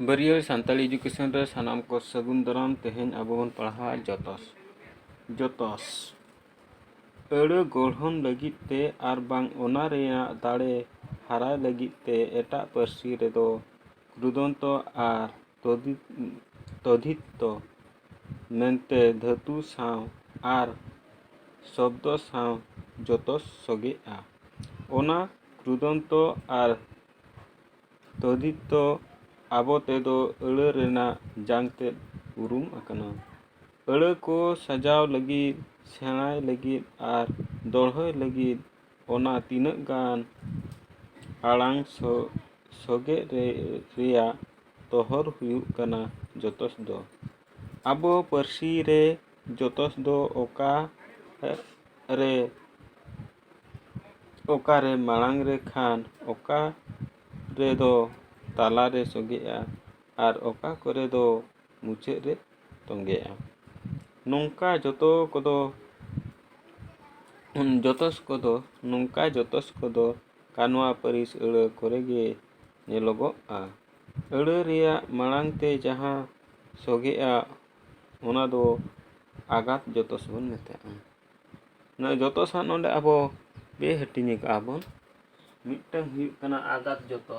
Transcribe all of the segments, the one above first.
ᱵᱟᱹᱨᱭᱟᱹᱲ Santali education ᱨᱮ ᱥᱟᱱᱟᱢ ᱠᱚ ᱥᱟᱹᱜᱩᱱ ᱫᱟᱨᱟᱢ ᱛᱮᱦᱮᱧ ᱟᱵᱚ ᱵᱚᱱ ᱯᱟᱲᱦᱟᱣᱟ ᱡᱚᱛᱚᱥ ᱡᱚᱛᱚᱥ ᱟᱹᱲᱟᱹ ᱜᱚᱲᱦᱚᱱ ᱞᱟᱹᱜᱤᱫ ᱛᱮ ᱟᱨ ᱵᱟᱝ ᱚᱱᱟ ᱨᱮᱭᱟᱜ ᱫᱟᱲᱮ ᱦᱟᱨᱟᱭ ᱞᱟᱹᱜᱤᱫ ᱛᱮ ᱮᱴᱟᱜ ᱯᱟᱹᱨᱥᱤ ᱨᱮᱫᱚ ᱨᱩᱫᱚᱱᱛᱚ ᱟᱨ ᱛᱚᱫᱤᱛ ᱛᱚᱫᱷᱤᱛᱛᱚ ᱢᱮᱱᱛᱮ ᱫᱷᱟᱹᱛᱩ ᱥᱟᱶ ᱟᱨ ᱥᱚᱵᱽᱫᱚ ᱥᱟᱶ ᱡᱚᱛᱚ ᱥᱚᱜᱮᱜᱼᱟ ᱚᱱᱟ ᱠᱨᱩᱫᱚᱱᱛᱚ ᱟᱨ ᱛᱚᱫᱷᱤᱛᱛᱚ ᱟᱵᱚ ᱛᱮᱫᱚ ᱟᱹᱲᱟᱹ ᱨᱮᱱᱟᱜ ᱡᱟᱝ ᱛᱮᱫ ᱩᱨᱩᱢ ᱟᱠᱟᱱᱟ ᱟᱹᱲᱟᱹ ᱠᱚ ᱥᱟᱡᱟᱣ ᱞᱟᱹᱜᱤᱫ ᱥᱮᱬᱟᱭ ᱞᱟᱹᱜᱤᱫ ᱟᱨ ᱫᱚᱲᱦᱚᱭ ᱞᱟᱹᱜᱤᱫ ᱚᱱᱟ ᱛᱤᱱᱟᱹᱜ ᱜᱟᱱ ᱟᱲᱟᱝ ᱥᱚᱜᱮ ᱨᱮ ᱨᱮᱭᱟᱜ ᱛᱚᱦᱚᱨ ᱦᱩᱭᱩᱜ ᱠᱟᱱᱟ ᱡᱚᱛᱚᱥ ᱫᱚ ᱟᱵᱚ ᱯᱟᱹᱨᱥᱤ ᱨᱮ ᱡᱚᱛᱚᱥ ᱫᱚ ᱚᱠᱟ ᱨᱮ ᱚᱠᱟᱨᱮ ᱢᱟᱲᱟᱝ ᱨᱮ ᱠᱷᱟᱱ ᱚᱠᱟ ᱨᱮᱫᱚ ᱛᱟᱞᱟᱨᱮ ᱥᱚᱜᱮᱜᱼᱟ ᱟᱨ ᱚᱠᱟ ᱠᱚᱨᱮ ᱫᱚ ᱢᱩᱪᱟᱹᱫ ᱨᱮ ᱛᱚᱸᱜᱮᱜᱼᱟ ᱱᱚᱝᱠᱟ ᱡᱚᱛᱚ ᱠᱚᱫᱚ ᱡᱚᱛᱚ ᱠᱚᱫᱚ ᱱᱚᱝᱠᱟ ᱡᱚᱛᱚ ᱠᱚᱫᱚ ᱠᱟᱱᱣᱟ ᱯᱟᱹᱨᱤᱥ ᱟᱹᱲᱟᱹ ᱠᱚᱨᱮ ᱜᱮ ᱧᱮᱞᱚᱜᱚᱜᱼᱟ ᱟᱹᱲᱟᱹ ᱨᱮᱭᱟᱜ ᱢᱟᱲᱟᱝ ᱛᱮ ᱡᱟᱦᱟᱸ ᱥᱚᱜᱮᱜᱼᱟ ᱚᱱᱟ ᱫᱚ ᱟᱜᱟᱛ ᱡᱚᱛᱚ ᱵᱚᱱ ᱢᱮᱛᱟᱜᱼᱟ ᱱᱚᱣᱟ ᱡᱚᱛᱚ ᱥᱟᱶ ᱱᱚᱰᱮ ᱟᱵᱚ ᱵᱮᱼᱦᱟᱹᱴᱤᱧ ᱟᱠᱟᱫᱼᱟ ᱵᱚᱱ ᱢᱤᱫᱴᱟᱹᱝ ᱦᱩᱭᱩᱜ ᱠᱟᱱᱟ ᱟᱜᱟᱛ ᱡᱚᱛᱚ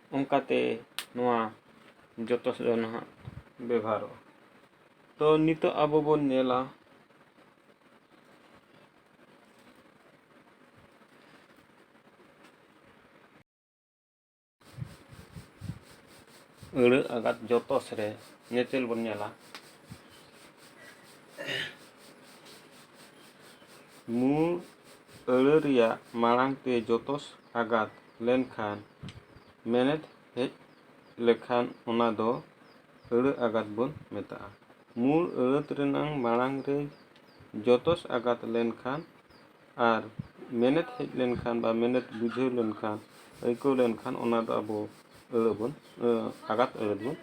ᱚᱱᱠᱟᱛᱮ ᱱᱚᱣᱟ ᱡᱚᱛᱚ ᱥᱮᱫ ᱫᱚ ᱱᱟᱦᱟᱜ ᱵᱮᱵᱷᱟᱨᱚᱜᱼᱟ ᱛᱚ ᱱᱤᱛᱚᱜ ᱟᱵᱚ ᱵᱚᱱ ᱧᱮᱞᱟ ᱟᱹᱲᱟᱹ ᱟᱜᱟᱛ ᱡᱚᱛᱚᱥ ᱨᱮ ᱧᱮᱛᱮᱞ ᱵᱚᱱ ᱧᱮᱞᱟ ᱢᱩᱬ ᱟᱹᱲᱟᱹ ᱨᱮᱭᱟᱜ ᱢᱟᱲᱟᱝ ᱛᱮ ᱡᱚᱛᱚᱥ ᱟᱜᱟᱛ ᱞᱮᱱᱠᱷᱟᱱ ᱢᱮᱱᱮᱛ ᱦᱮᱡ ᱞᱮᱠᱷᱟᱱ ᱚᱱᱟ ᱫᱚ ᱟᱹᱲᱟᱹ ᱟᱜᱟᱛ ᱵᱚᱱ ᱢᱮᱛᱟᱜᱼᱟ᱾ ᱢᱩᱬ ᱟᱹᱲᱟᱹᱛ ᱨᱮᱱᱟᱝ ᱢᱟᱬᱟᱝ ᱨᱮᱡᱽ ᱡᱚᱛᱚᱥ ᱟᱜᱟᱛ ᱞᱮᱱᱠᱷᱟᱱ ᱟᱨ ᱢᱮᱱᱮᱛ ᱦᱮᱡ ᱞᱮᱱᱠᱷᱟᱱ ᱵᱟ ᱢᱮᱱᱮᱛ ᱵᱩᱡᱷᱟᱹᱣ ᱞᱮᱱᱠᱷᱟᱱ, ᱟᱹᱭᱠᱟᱹᱣ ᱞᱮᱱᱠᱷᱟᱱ ᱚᱱᱟ ᱫᱚ ᱟᱵᱚ ᱟᱹᱲᱟᱹ ᱵᱚᱱ ᱟᱜᱟᱛ ᱟᱹᱲᱟᱹᱛ ᱵᱚᱱ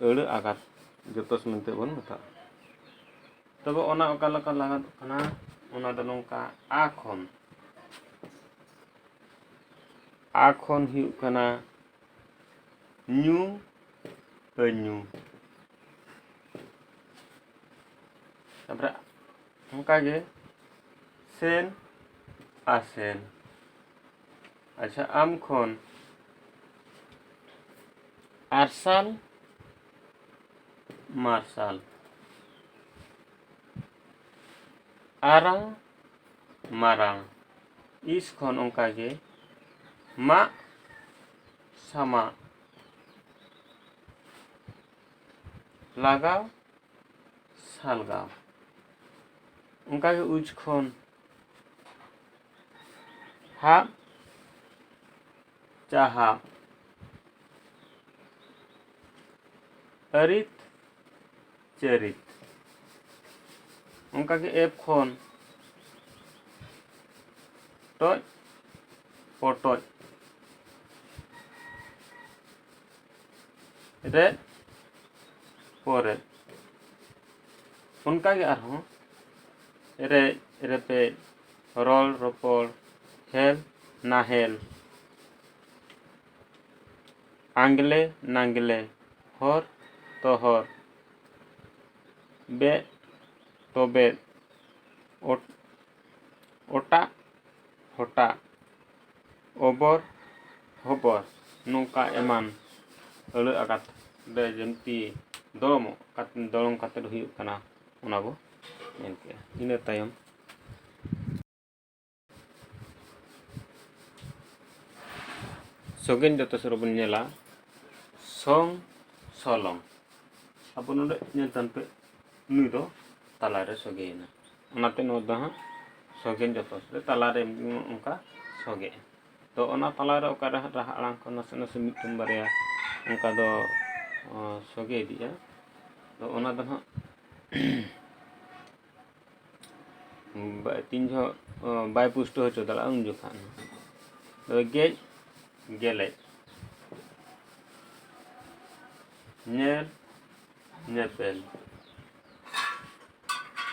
ᱟᱹᱲᱟᱹ ᱟᱜᱟᱛ ᱡᱚᱛᱚᱥ ᱢᱮᱱᱛᱮ ᱵᱚᱱ ᱢᱮᱛᱟᱜᱼᱟ᱾ ᱛᱚᱵᱮ ᱚᱱᱟ ᱚᱠᱟ ᱞᱮᱠᱟ ᱞᱟᱜᱟᱫᱚᱜ ᱠᱟᱱᱟ ᱚᱱᱟ ᱫᱚ ᱱᱚᱝᱠᱟ ᱟ ᱠᱷᱚᱱ ᱟ ᱠᱷᱚᱱ ᱦᱩᱭᱩᱜ ᱠᱟᱱᱟ ᱧᱩ ᱟᱹᱧᱩ ᱛᱟᱯᱚᱨᱮ ᱚᱱᱠᱟᱜᱮ ᱥᱮᱱ ᱟᱥᱮᱱ ᱟᱪᱪᱷᱟ ᱟᱢ ᱠᱷᱚᱱ ᱟᱨᱥᱟᱞ ᱢᱟᱨᱥᱟᱞ ᱟᱨᱟᱝ ᱢᱟᱨᱟᱝ ᱤᱥ ᱠᱷᱚᱱ ᱚᱱᱠᱟᱜᱮ ᱢᱟᱜ ᱥᱟᱢᱟᱜ ᱞᱟᱜᱟᱣ ᱥᱟᱞᱜᱟᱣ ᱚᱱᱠᱟᱜᱮ ᱩᱡᱽ ᱠᱷᱚᱱ ᱦᱟᱜ ᱡᱟᱦᱟᱸ ᱟᱹᱨᱤᱛ ᱪᱟᱹᱨᱤᱛ ᱚᱱᱠᱟᱜᱮ ᱮᱯ ᱠᱷᱚᱱ ᱴᱚᱡ ᱯᱚᱴᱚᱡ ᱨᱮ ᱯᱚᱨᱮ ᱚᱱᱠᱟᱜᱮ ᱟᱨᱦᱚᱸ ᱮᱨᱮᱡ ᱨᱮᱯᱮᱡ ᱨᱚᱲ ᱨᱚᱯᱚᱲ ᱦᱮᱞ ᱱᱟᱦᱮᱞ ᱟᱸᱜᱽᱞᱮ ᱱᱟᱸᱜᱽᱞᱮ ᱦᱚᱨ ᱛᱚᱦᱚᱨ ᱵᱮᱫ ᱛᱚᱵᱮᱫ ᱚᱴᱟᱜ ᱦᱚᱴᱟᱜ ᱚᱵᱚᱨ ᱦᱚᱵᱚᱨ ᱱᱚᱝᱠᱟ ᱮᱢᱟᱱ ᱟᱹᱲᱟᱹ ᱟᱠᱟᱨ ᱛᱮ ᱵᱤᱱᱛᱤ ᱫᱚᱲᱚᱢᱚᱜ ᱫᱚᱲᱚᱢ ᱠᱟᱛᱮᱫ ᱦᱩᱭᱩᱜ ᱠᱟᱱᱟ ᱚᱱᱟ ᱵᱚ ᱧᱮᱞ ᱠᱮᱜᱼᱟ ᱤᱱᱟᱹ ᱛᱟᱭᱚᱢ ᱥᱚᱜᱮᱱ ᱡᱚᱛᱚ ᱥᱚᱨᱚ ᱵᱚᱱ ᱧᱮᱞᱟ ᱥᱚᱝ ᱥᱚᱞᱚᱝ ᱟᱵᱚ ᱱᱚᱰᱮ ᱧᱮᱞ ᱛᱟᱱ ᱯᱮ ᱱᱩᱭ ᱫᱚ ᱛᱟᱞᱟᱨᱮ ᱥᱚᱜᱮᱭᱮᱱᱟ ᱚᱱᱟᱛᱮ ᱱᱚᱣᱟ ᱫᱚ ᱦᱟᱸᱜ ᱥᱚᱜᱮᱱ ᱡᱚᱛᱚ ᱥᱚᱨᱚ ᱛᱟᱞᱟᱨᱮ ᱚᱱᱠᱟ ᱥᱚᱜᱮᱜᱼᱟ ᱛᱚ ᱚᱱᱟ ᱛᱟᱞᱟᱨᱮ ᱚᱠᱟᱨᱮ ᱦᱟᱸᱜ ᱨᱟᱦᱟ ᱟᱲᱟᱝ ᱠᱚ ᱱᱟᱥᱮ ᱱᱟᱥᱮ ᱢᱤᱫᱴᱟᱝ ᱵᱟᱨᱭᱟ ᱚᱱᱠᱟ ᱫᱚ ᱥᱚᱜᱮ ᱤᱫᱤᱜᱼᱟ ᱛᱚ ᱚᱱᱟ ᱫᱚ ᱦᱟᱸᱜ ᱛᱤᱱ ᱡᱚᱦᱚᱜ ᱵᱟᱭ ᱯᱩᱥᱴᱟᱹᱣ ᱦᱚᱪᱚ ᱫᱟᱲᱮᱭᱟᱜᱼᱟ ᱩᱱ ᱡᱚᱠᱷᱟᱜ ᱛᱚᱵᱮ ᱜᱮᱡ ᱜᱮᱞᱮᱡ ᱧᱮᱞ ᱧᱮᱯᱮᱞ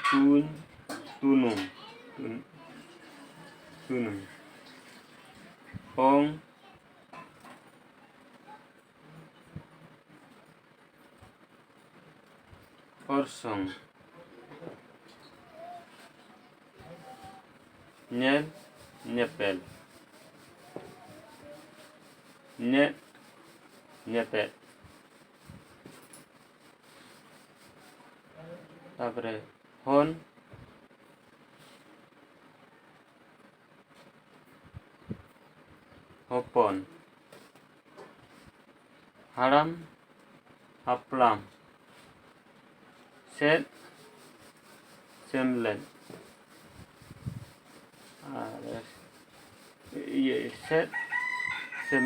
ᱛᱩᱧ ᱛᱩᱱᱩᱢ ᱛᱩᱱᱩᱢ ᱚᱝ ᱚᱨᱥᱚᱝ ᱧᱮᱞ ᱧᱮᱯᱮᱞ ᱧᱮᱫ ᱧᱮᱯᱮᱫ ᱛᱟᱯᱚᱨᱮ ᱦᱚᱱ ᱦᱚᱯᱚᱱ ᱦᱟᱲᱟᱢ ᱦᱟᱯᱲᱟᱢ ᱥᱮᱫ ᱥᱮᱢᱞᱮᱫ ᱟᱨ ᱤᱭᱟᱹ ᱥᱮᱫ ᱥᱮᱢ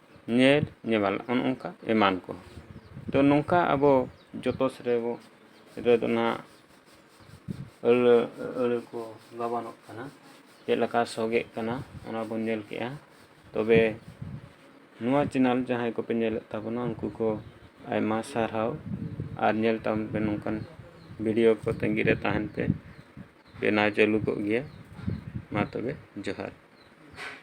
ᱧᱮᱞ ᱧᱮᱢᱟᱱ ᱚᱱᱮ ᱚᱱᱠᱟ ᱮᱢᱟᱱ ᱠᱚ ᱛᱚ ᱱᱚᱝᱠᱟ ᱟᱵᱚ ᱡᱚᱛᱚ ᱥᱮᱫ ᱨᱮᱵᱚ ᱨᱮᱫᱚ ᱱᱟᱜ ᱟᱹᱲᱟᱹ ᱟᱹᱲᱟᱹ ᱠᱚ ᱜᱟᱵᱟᱱᱚᱜ ᱠᱟᱱᱟ ᱪᱮᱫ ᱞᱮᱠᱟ ᱥᱚᱜᱮᱜ ᱠᱟᱱᱟ ᱚᱱᱟ ᱵᱚᱱ ᱧᱮᱞ ᱠᱮᱜᱼᱟ ᱛᱚᱵᱮ ᱱᱚᱣᱟ ᱪᱮᱱᱮᱞ ᱡᱟᱦᱟᱸᱭ ᱠᱚᱯᱮ ᱧᱮᱞᱮᱫ ᱛᱟᱵᱚᱱᱟ ᱩᱱᱠᱩ ᱠᱚ ᱟᱭᱢᱟ ᱥᱟᱨᱦᱟᱣ ᱟᱨ ᱧᱮᱞ ᱛᱟᱵᱚᱱ ᱯᱮ ᱱᱚᱝᱠᱟᱱ ᱵᱷᱤᱰᱤᱭᱳ ᱠᱚ ᱛᱟᱺᱜᱤ ᱨᱮ ᱛᱟᱦᱮᱱ ᱯᱮ ᱵᱮᱱᱟᱣ ᱪᱟᱹᱞᱩ ᱠᱚᱜ ᱜᱮᱭᱟ ᱢᱟ ᱛᱚᱵᱮ ᱡᱚᱦᱟᱨ